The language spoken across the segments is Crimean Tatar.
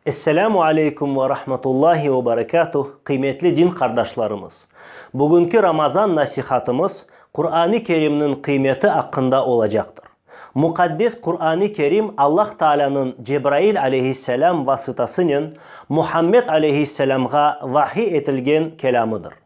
Esselamu aleykum ve rahmetullahi ve berekatuh, qıymetli din qardaşlarımız! Bugünki Ramazan nasihatımız Quran-ı Kerimniñ qıymeti aqqında olacaqtır. Muqaddes Quran-ı Kerim Allah Taalânıñ Cebrail aleyhisselâm vasıtasınen Muhammed aleyhisselâmğa vahiy etilgen kelâmıdır.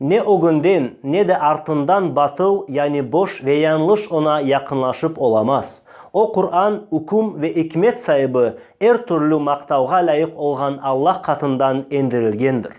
Ne ögünden, ne de artından batıl, yani boş ve yañlış oña yaqınlaşıp olamaz. O Quran, üküm ve ikmet saibi, er türlü maqtavğa lâyıq olğan Alla qatından endirilgendir.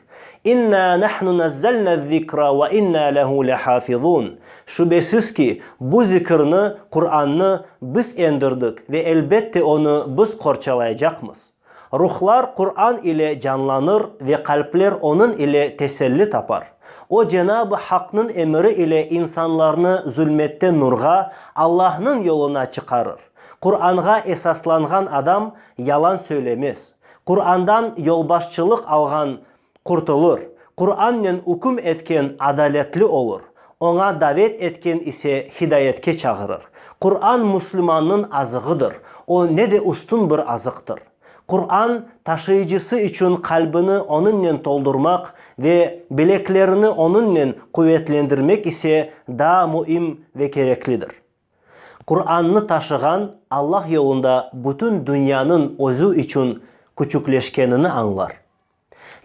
İnnâ nahnu nazzalnâ'z zikra ve innâ lehu lehâfizûn. Şübesiz ki, bu zikirni, Qurannı, Biz endirdik ve elbette onı Biz qorçalayacaqmız. Ruhlar Quran ile canlanır ve qalpler onıñ ile teselli tapar. O Cenab-ı Haqnıñ emiri ile insanlarnı zulmetten nurğa, Allahnıñ yoluna çıqarır. Quranğa esaslanğan adam yalan söylemez. Qurandan yolbaşçılıq alğan Qurtulur. Qurannen üküm etken adaletli olur, oña davet etken ise hidayetke çağırır. Quran müslümannıñ azığıdır, o ne de üstün bir azıqtır. Quran, taşıyıcısı içün qalbini onıñnen toldurmaq ve bileklerini onıñnen quvetlendirmek ise daa müim ve kereklidir. Qurannı taşığan Allah yolunda bütün dünyanıñ özü içün küçükleşkenini añlar.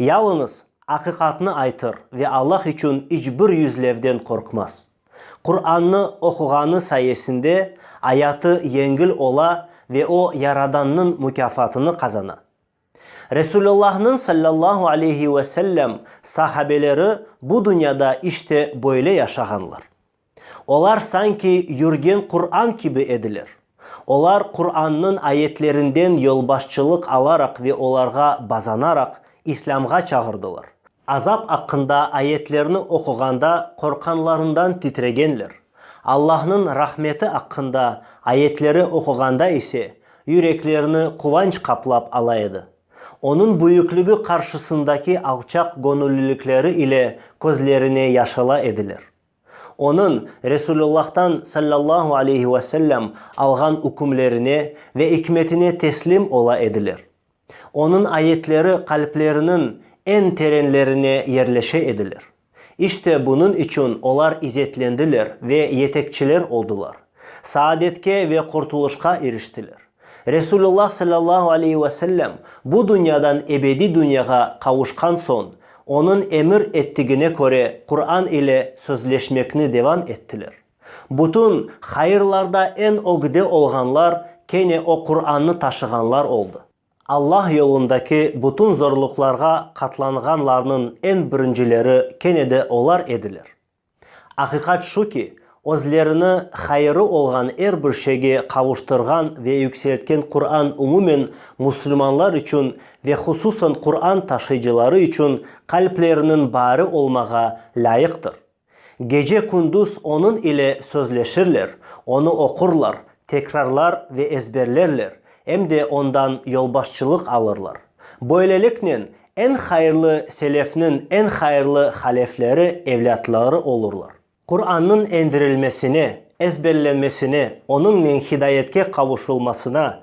Yalıñız aqiqatnı aytır ve Allah içün iç bir yüzlevden qorqmaz. Qurannı oquğanı sayesinde ayatı yengil ola ve o Yaradannıñ mukâfatını qazana. Resulullahnıñ sallallahu aleyhi ve sellem sahabeleri bu dünyada işte böyle yaşağanlar. Olar sanki yürgen Quran kibi ediler. Olar Qurannıñ ayetlerinden yolbaşçılıq alaraq ve olarğa bazanaraq İslâmğa çağırdılar. Azap aqqında ayetlerni oquğanda qorqanlarından titregenler, Allahnıñ rahmeti aqqında ayetleri oquğanda ise yüreklerini quvanç qaplap ala edi. Onıñ büyükligi qarşısındaki alçaq göñüllilikleri ile közlerine yaş ala ediler. Onıñ, Resulullah'tan, sallallahu aleyhi ve sellem, alğan ükümlerine ve ikmetine teslim ola ediler. Onıñ ayetleri qalpleriniñ eñ terenlerine yerleşe ediler. İşte bunıñ içün olar izetlendiler ve yetekçiler oldılar, saadetke ve qurtulışqa iriştiler. Resulullah sallallahu aleyhi ve sellem bu dünyadan ebediy dünyağa qavuşqan soñ, onıñ emir ettigine köre Quran ile sözleşmekni devam ettiler. Bütün hayırlarda eñ ögde olğanlar kene o Qurannı taşığanlar oldı. Alla yolundaki bütün zorluqlarğa qatlanğanlarnıñ eñ birincileri kene de olar ediler. Aqiqat şu ki, özlerini hayırı olğan er bir şeyge qavuştırğan ve yükseltken Qurann umumen musulmanlar içün ve hususan Qurann taşıyıcıları içün qalpleriniñ baarı olmağa lâyıqtır. Gece-kündüz onıñ ile sözleşirler, onı oqurlar, tekrarlar ve ezberlerler, em de ondan yolbaşçılıq alırlar. Böyleliknen, eñ hayırlı selefniñ eñ hayırlı halefleri evlâtları olurlar. Qurannıñ endirilmesine, ezberlenmesine, onıñnen hidayetke qavuşulmasına,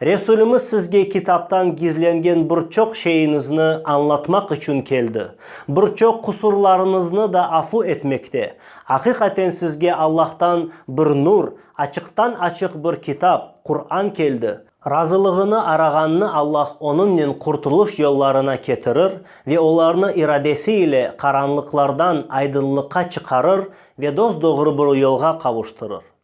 Resulimiz sizge kitaptan gizlengen bir çoq şeyiñizni añlatmaq içün keldi. Bir çoq qusurlarıñıznı da afu etmekte. Aqiqaten sizge Allahtan bir nur, açıqtan-açıq bir kitap, Quran keldi. Razılığını arağannı Allah onıñnen qurtulış yollarına ketirir ve olarnı iradesi ile qaranlıqlardan aydınlıqqa çıqarır ve dos-doğru bir yolğa qavuştırır.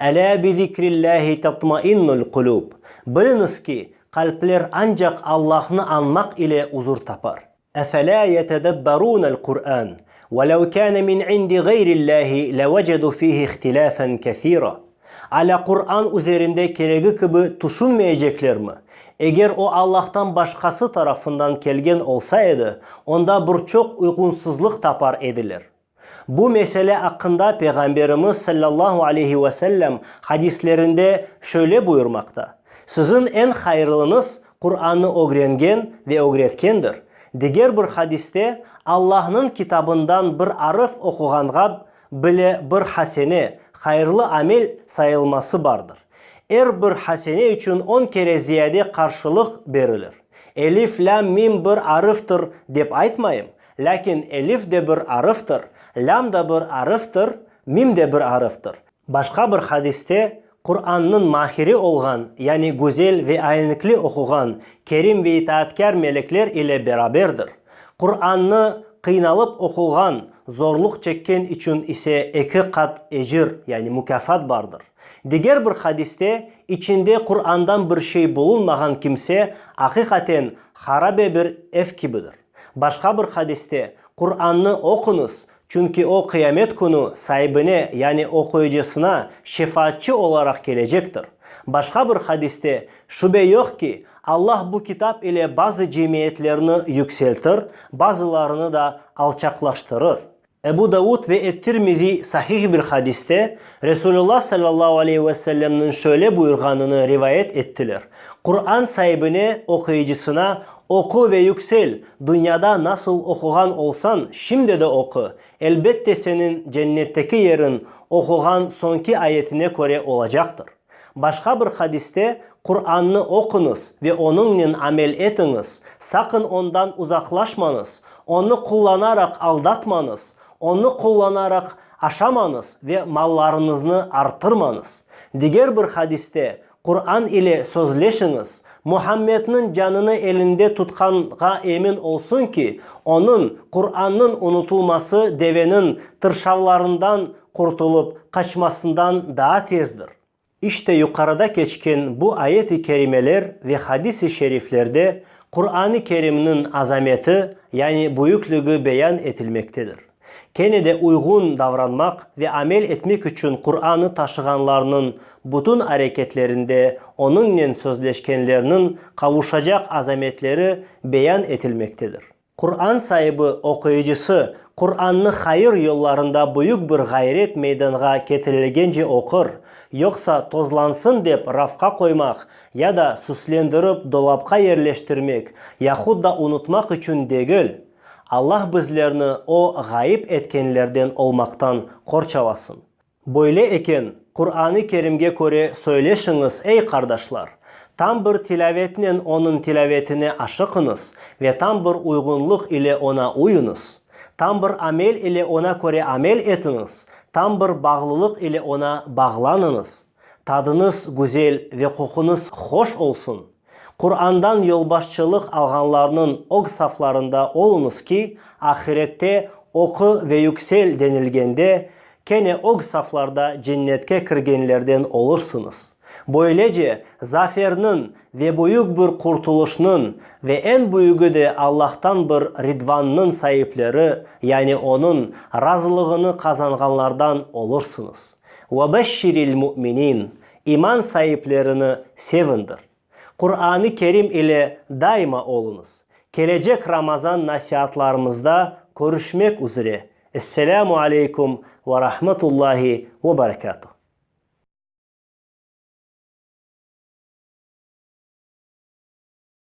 Elâ bi zikrillâhi tatmainnul qulûb, Biliñiz ki, qalpler ancaq Allahnı añmaq ile uzur tapar. Efelâ yetedebberûnel Qurân, ve lev kâne min indi ğeyrillâhi levecedu fihi ihtilâfen kesîra, Alâ Quran üzerinde keregi kibi tüşünmeyeceklermi? Eger o Allahtan başqası tarafından kelgen olsa edi, onda bir çoq uyğunsızlıq tapar ediler. Bu mesele aqqında Peyğamberimiz sallallahu aleyhi ve sellem hadislerinde şöyle buyurmaqta, Siziñ eñ hayırlıñız Qurannı ögrengen ve ögretkendir, diger bir hadiste, Allahnıñ Kitabından bir arf oquğanğa bile bir hasene, hayırlı amel, sayılması bardır. Er bir hasene içün on kere ziyade qarşılıq berilir. Elif, lâm, mim bir arftir dep aytmayım, Lâkin elif de bir arıftır, lâm da bir arıftır, mim de bir arıftır. Başqa bir hadiste Qurannıñ mahiri olğan, yani güzel ve aynikli oquğan kerim ve itaatkâr melekler ile beraberdir. Qurannı qıynalıp oquğan, zorluq çekken içün ise eki qat ecir, yani mukâfat bardır. Diger bir hadiste içinde Qurandan bir şey bulunmağan kimse aqiqaten harabe bir ev kibidir. Başqa bir hadiste, Qurannı oquñız, çünki o Qıyamet künü saibine, yani oquyıcısına şefaatçı olaraq kelecektir. Başqa bir hadiste, Şübe yoq ki, Allah bu kitap ile bazı cemiyetlerni yükseltir, bazılarını da alçaqlaştırır. Ebu Davud ve et-Tirmiziy sahih bir hadiste Resulullah sallallahu aleyhi ve sellemniñ şöyle buyurğanını rivayet ettiler, Quran saibine, oquyıcısına, Oqu ve yüksel, dünyada nasıl oquğan olsañ, şimdi de oqu, elbette seniñ cennetteki yeriñ oquğan soñki ayetine köre olacaqtır. Başqa bir hadiste, Qurannı oquñız ve onıñnen amel etiñiz, saqın ondan uzaqlaşmañız, onı qullanaraq aldatmañız, onı qullanaraq aşamañız ve mallarıñıznı arttırmañız. Diger bir hadiste, Quran ile sözleşiñiz, Muhammedniñ canını elinde tutqanğa emin olsun ki, onıñ, Qurannıñ, unutulması deveniñ tırşavlarından qurtulıp qaçmasından daa tezdir. İşte yuqarıda keçken bu ayet-i kerimeler ve hadis-i şeriflerde Quran-ı Kerimniñ azameti, yani büyükligi beyan etilmektedir. Kene de uyğun davranmaq ve amel etmek içün Quranı taşığanlarnıñ bütün areketlerinde onıñnen sözleşkenlerniñ qavuşacaq azametleri beyan etilmektedir. Quran saibi oquyıcısı Qurannı hayır yollarında büyük bir ğayret meydanğa ketirilgence oqur, yoqsa tozlansın dep rafqa qoymaq ya da süslendirip dolapqa yerleştirmek yahut da unutmaq içün degil. Allah bizlerni o ğayıp etkenlerden olmaqtan qorçalasın. Böyle eken, Quran-ı Kerimge köre söyleşiñiz, ey qardaşlar! Tam bir tilâvetnen onıñ tilâvetine aşıqıñız ve tam bir uyğunlıq ile oña uyuñız. Tam bir amel ile oña köre amel etiñiz, tam bir bağlılıq ile oña bağlanıñız. Tadıñız güzel ve qoquñız hoş olsun! Qurandan yolbaşçılıq alğanlarnıñ ög saflarında oluñız ki, ahirette oqu ve yüksel denilgende, kene ög saflarda cennetke kirgenlerden olursıñız. Böylece, zaferniñ ve büyük bir qurtulışnıñ ve eñ büyügi de Allahtan bir ridvannıñ saipleri, yani Onıñ razılığını qazanğanlardan olursıñız. Ve beşşiril mu'minin, iman saiplerini sevindir. Quran-ı Kerim ile daima oluñız. Kelecek Ramazan nasiatlarımızda körüşmek üzre. Esselamu aleykum ve rahmetullahi ve berekatuh.